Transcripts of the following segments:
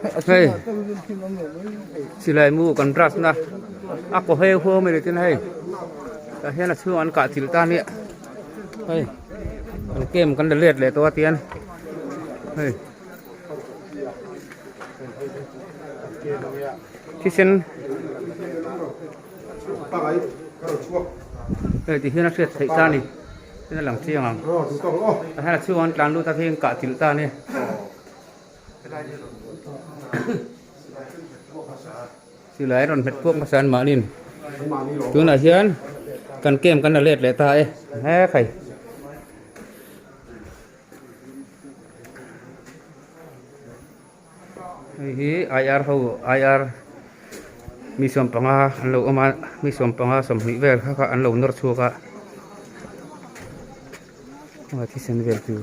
Hei, silai mu kan brush na a kaw heu hua mai ni tel hei tah hian a chhung an kah chilh ta ania hei an kem kan la let leh tawh a tian hei thisen hei ti hian a hriat theih ta ni ten a lang chiang ang tah hian a chhung an tlan lut a khi an kah chilh ta ania. Silai rawn hmet puak hmasa an mahni in tunah hian kan kem kan la let leh ta e. He khai. Hei hi IR ho IR mi sawm panga an lo awm a mi sawm panga sawmhnih vel kha kha an lo nawr chhuak a thisen vel tur.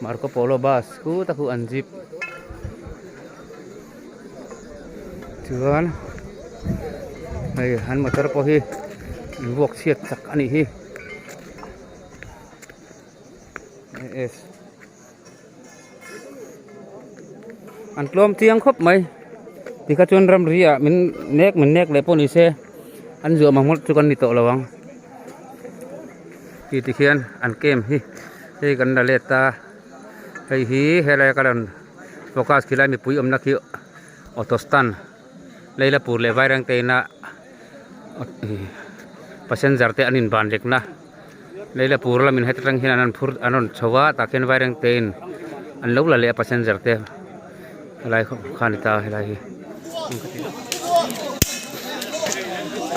Marco Polo bus pu tak u an zip chuan hei an motor pawh hi in vuak chhiat tak a nih hi AS an tlawm chiang khawp mai tikah chuan ramri ah min nek min nek leh pawh ni se an zuam ang hmawlh chu kan ni tawh lo ang. ti ti khian an kem hi hei kan la let a hei hi helai a ka rawn focus khi lai mipui awmna khi auto stand lei la pur leh vairengte ina passenger te an invan lek na lei la pura lam in heta tang hian an rawn phur an rawn chho a tah khian vairengte in an lo la leh a passenger te. helai kha kha ani ta helai hi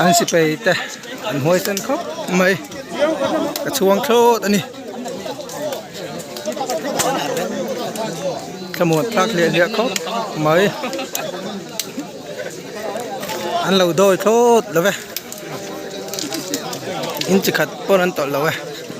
an sipai te an huai san khawp mai ka chhuang thlawt ani thlamuan tlak leh leh khawp mai an lo dawi thlawt lo ve inchi khat pawn an tawlh lo e.